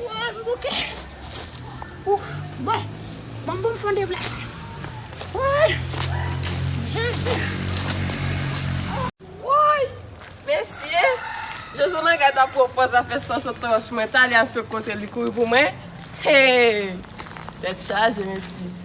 Woy m bouke. Ouff bon banm poum fon deplase. Woy jezi. Woy mesye Jojo manga ta pran pòz la fè sans antanch mwen ta li al fè kontè li kouri pou mwen hee tèt chaje mesye.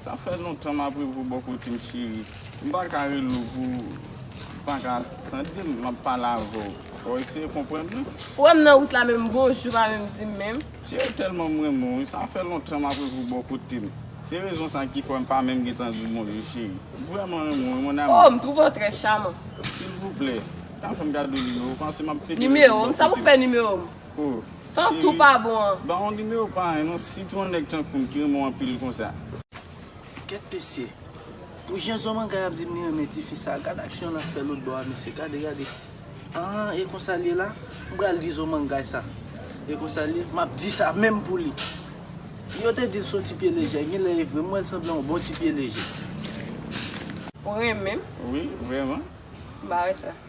Sa fè lontan map reve w boo kotem cheri m paka rele w pou ou paka tandem map pale avè w fò w eseye konprann mwen. Ou wèm nan wout la menm bonjou pa menm dim menm. Cheri m tèlman m renmen w wi sa fè lontan map reve w boo kotem se rezon sa ki fè m pa menm gentan di w bonjou cheri m vrèman renmen w wi mon amour. Oh m trouve w trè chaman. Silvouplè ta fè m gade w nimewo w pansem ap teke rete w boo kotem. Nimewo m sa pou fè nimewo m. Oh cheri ban ou nimewo pa anh non si tou yon nèg tankoum ki renmen w anpil konsa. Kèt mesye Pou jan zomanga ap dim li renmen tifi sa gad aksyon lap fè lotbò a mesye gade gade anh e konsal ye la mpral di zomangay sa e konsal ye map di sa menm pou li yo te dil son ti pye lejè genlè e vre m wèl sanble yon bon ti pye lejè. Ou renmenm? Wi vrèman. Ba wè sa.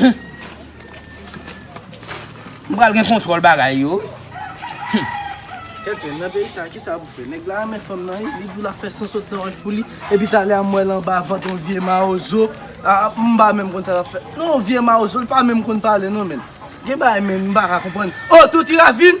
Humm. M pral gen kontwòl bagay yo wi. Humm. Kèt menm nan peyi sa kisa pou fè. Nèg la renmen fanm nan wi. Li di w lap fè san sot nan wòch pou li. Epi talè a m wè l anba vant yon vye mawozo. Aa m pa menm konn sa lap fè. Non yon vye mawozo l pa menm konn pale non menn. Gen bagay menn m paka konprann. Oh Toti Ravin!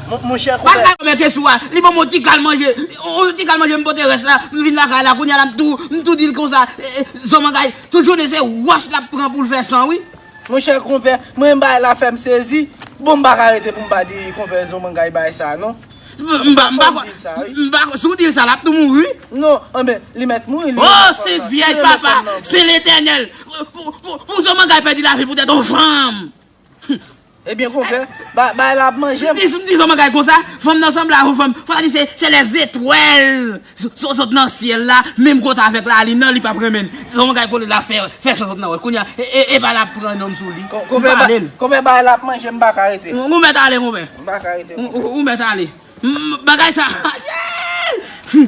Mon chè Koube. Bal la yo mete sou a, li banm on ti kal manje, on ti kal manje m pote rès la, m vin lakay la kounya la m tou, m tou dil konsa, zòmangay, tout jounen se wòch lap pran poul fè san wi. Mon chè Konpè, m renmen bagay la fèm sezi, bon m paka rete pou m pa di Konpè Zòmangay bagay sa non. M pa, m pa kwè, m pa kwè, si w dil sa lap tou mouri wi. Non, anben, li mèt mouri, li renmen fanm nan, li renmen fanm nan. Oh Sent Vyèj papa, Sen Letènèl, pou Zòmangay pèdi lavi poutèt on fanm. Humm ebyen konpè bay la ap manje m. M di zòt bagay konsa fanm nan sanble avon fanm fwa di se se lè zetwèl sòt nan syèl la menm kote avèk lalin nan li pap renmen l se zòt bagay kote lap fè sòt nan wòch kounye a epa lap pran nonm sou li konpè bay la ap manje m paka rete m ou mèt ale konpè m paka rete ou mèt ale bagay sa aayy humm.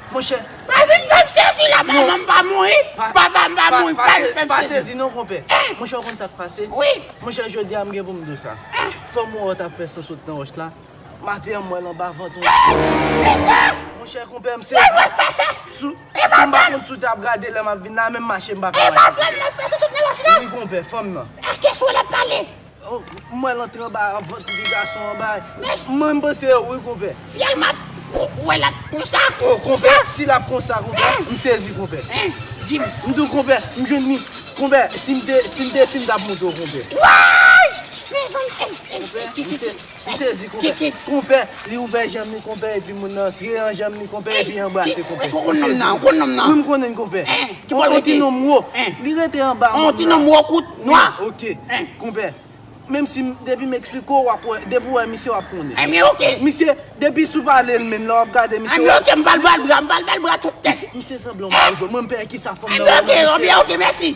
Monchè. Pa vin fèm sezi la manmanm pa mouri papam pa mouri pa vin fèm sezi. Pa sezi non konpè. Monchè ou konn sak pase. Wi. Monchè jodi a mgen poum diw sa. Fanm ou wè tap fè so sot nan wòch la maten an mwèl anba vant ou. Kisa. Monchè konpè m sezi. Sou Epa fanm. Mpa konn si w tap gade lèm ap vin la menm mache mpa ka mache. Epa fanm nan fè so sot nan wòch la. Wi konpè fanm nan. Eske sou wèl ap pale. M wèl antre anba vant ti gason an bay. Mwen m panse yo wi konpè. Fiyèl mat ou wèl ap konsa. Oh konpè si lap konsa konpè m sezi konpè. Dim. M diw konpè m jwenn li konpè sim te sim te fim tap montre w konpè. Wayy mezanmi. Konpè m se. Li sezi konpè. Konpè, li ouvè janm li konpè epi moun nan antre an janm li konpè epi anbrase konpè. Èske ou konn nonm nan? Ou konn nonm nan? Wi m konnen l konpè. Ki bò l rete? On ti nonm wo. Li rete anba moun nan. On ti nonm wo kout, nwa. Ok. Konpè, menm si m, depi m eksplike w w ap wè, depi w wè misye w ap konnen. Anben ok. Misye, depi sou pale l menm, lè w ap gade misye w ap. Anben ok, m pral ba l bra, m pral ba l bra twop tèt. Misye sanble yon mawozo. Mwen m pè kisa fanm nan wè nan misye. Anben ok, anben ok, mèsi.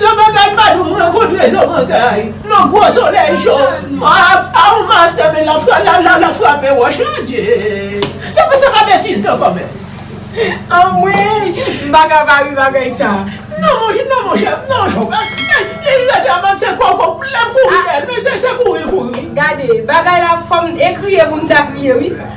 Yon bagay pa dou m rankontre zo mantay nan gwo solèy cho a ou mastè men lafralala la frape wòch adje se pa sa pa betiz nan kòmè anmweyy m pa ka pa ri bagay sa nan monchè nan monchè nan cho pa li rete a bann se koko lèm kouri dèyèl men se kouri kouri. Gade bagay la fòm e kriye pou m ta kriye wi.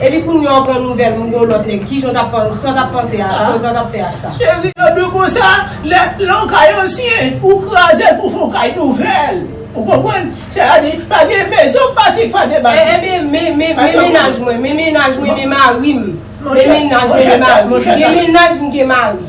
Epi kounye a ou pran nouvèl moun gen yon lòt nèg kijan w tap panse sa w tap panse a sa w tap fè ak sa. Chéri yo dwe konsa lè yon kay ansyen ou krazel pou fon kay nouvèl ou konprann sa a di pa gen mezon bati k pa te bati. Ebyen men men mennaj mwen men mennaj mwen men marim men mennaj mwen men marim gen mennaj m gen mari.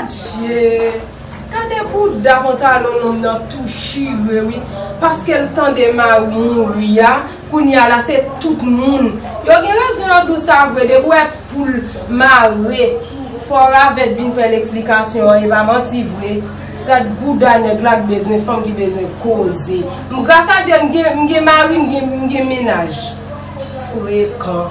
Adjee gade bouda pantalon nonm nan ap tou chire wi paskel tande mariw mouri a kounya la se tout moun yo gen rezon yo ap diw sa vre depi ou wè poul mare fò ravèt vin fèl eksplikasyon an epa manti vre gad bouda nèg la ak bezwen fanm ki bezwen koze m gras a Dye m gen mari m gen mennaj frekan.